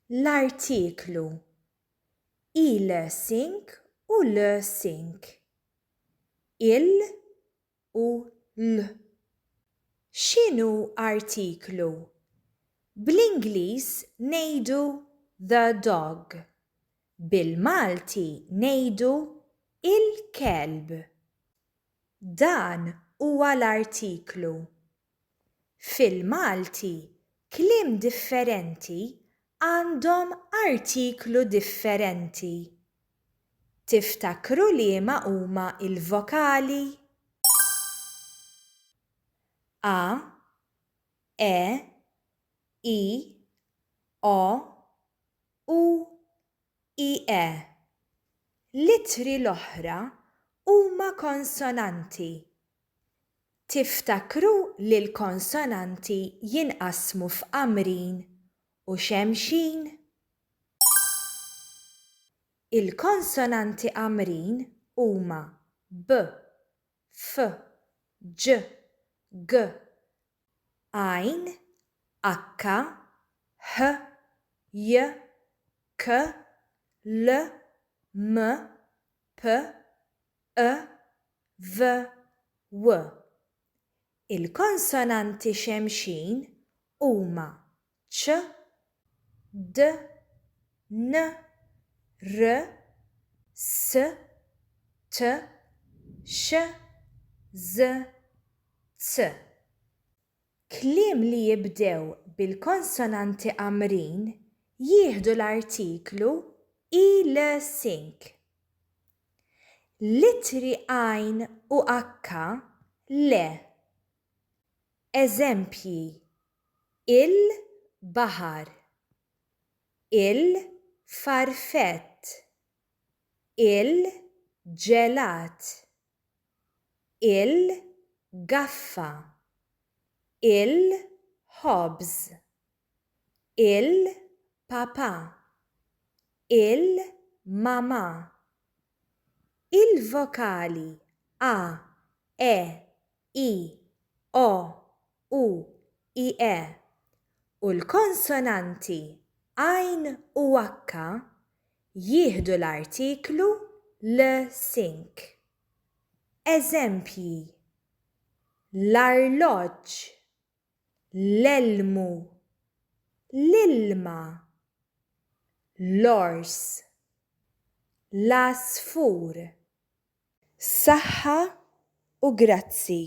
l-artiklu il-sink u l-sink, il u l. X'inhu artiklu? Bl-Ingliż ngħidu the dog. Bil-Malti ngħidu il-kelb. Dan huwa l-artiklu. Fil-Malti kliem differenti għandhom artiklu differenti. Tiftakru liema huma l-vokali? A, E, I, O, U, I, E. L-ittri l-oħra huma konsonanti. Tiftakru li l-konsonanti jinqasmu f'qamrin u xemxin? Il-konsonanti qamrin huma b, f, ġ, g, għajn, akka, h, j, k, l, m, p, ë, v, w. Il-konsonanti xemxin huma ċ, d, n, r, s, t, sh, z, z. Kliem li jibdew bil-konsonanti qamrin jieħdu l-artiklu i-l-sink. L-ittri għajn u akka le. Eżempji, il, baħar, il, farfett, il, ġelat. il-gaffa, il-ħobż, il-papà, il-mamà. Il-vokali a, e, i, o, u ie u l-konsonanti għajn u akka jieħdu l-artiklu l sink. Eżempji, l-arloġġ, l-elmu, l-ilma, l-ors, l-għasfur. Saħħa u grazzi.